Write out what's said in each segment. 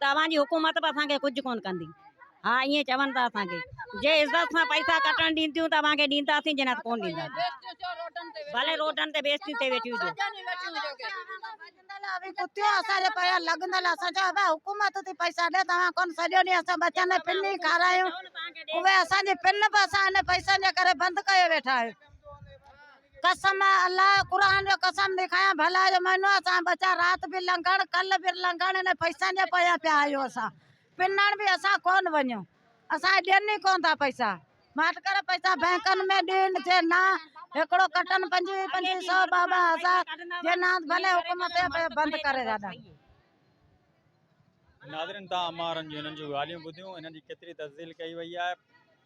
توهان جي حڪومت به اسان کي ڪجهه ڪونه ڪندي. ها ائين چون ٿا اسان کي جي عزت سان پئسا ڪٽڻ ڏين ٿيون ته اوهان کي ڏينداسين جي نه ته ڪونه ڏينداسين ڀلي روڊن تي بيستيون ٿي ويٺيون هجو. ڪتيون اسان جي پيا لڳندل اسان چيو ابا حڪومت ٿي پئسا ڏي توهان ڪونه سڄو ڏينهن اسان ٻچن کي پن ئي کارايون اهي اسان جي پن به اسان ان پئسن جي ڪري بند ڪيو ويٺا آهيون. قسم آ الله جو قرآن جو قسم ٿي کايان ڀلا جو مھينو آ اسان ٻچا رات به لنگھڻ ڪل به لنگھڻ انھن پئسن جي پويان پيا آھيون اسان پنڻ به اسان ڪون وڃو اسان ڏين ئي ڪون ٿا پئسا ماٺ ڪري پئسا بينڪن ۾ ڏين جي نا ھڪڙو ڪٽن پنجويھ پنجويھ سئو ٻه ٻه ھزار جي نا ڀلي حڪومت اھي بند ڪري ساڊا. ناظرين تان امان رنجو انھن جون ڳالھيون ٻڌيون انھن جي ڪيتري تفصيل ڪئي وئي آھي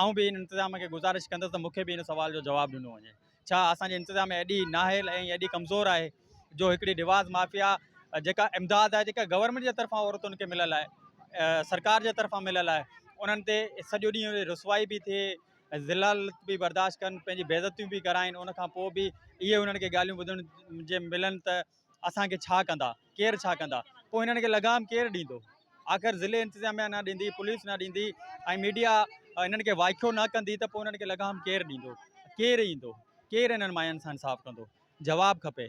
آئون به ان انتظاميه کي گذارش ڪندس ته مون کي به ان سوال جو جواب ڏنو وڃي. ڇا اسان جي انتظاميه ايڏي نااهل ۽ ايڏي ڪمزور آهي جو هڪڙي رواز مافيا جيڪا امداد آهي جيڪا گورنمينٽ جي طرفان عورتن کي مليل آهي سرڪار جي طرفان مليل آهي انهن تي سڄو ڏينهن رسوائي به ٿئي ذلالت به برداشت ڪن پنهنجي بيعزتيون به ڪرائين ان کان پوء به اهي انهن کي ڳالهيون ٻڌڻ جي ملن ته اسان کي ڇا ڪندا؟ ڪير ڇا ڪندا؟ پوء هنن کي لغام ڪير ڏيندو؟ آخر ضلعي انتظاميا نه ڏيندي، پوليس نه ڏيندي ۽ ميڊيا هنن کي وائکو نه ڪندي ته پوء هنن کي لغام ڪير ڏيندو؟ ڪير ايندو؟ ڪير هنن ماين سان انصاف ڪندو؟ جواب کپي.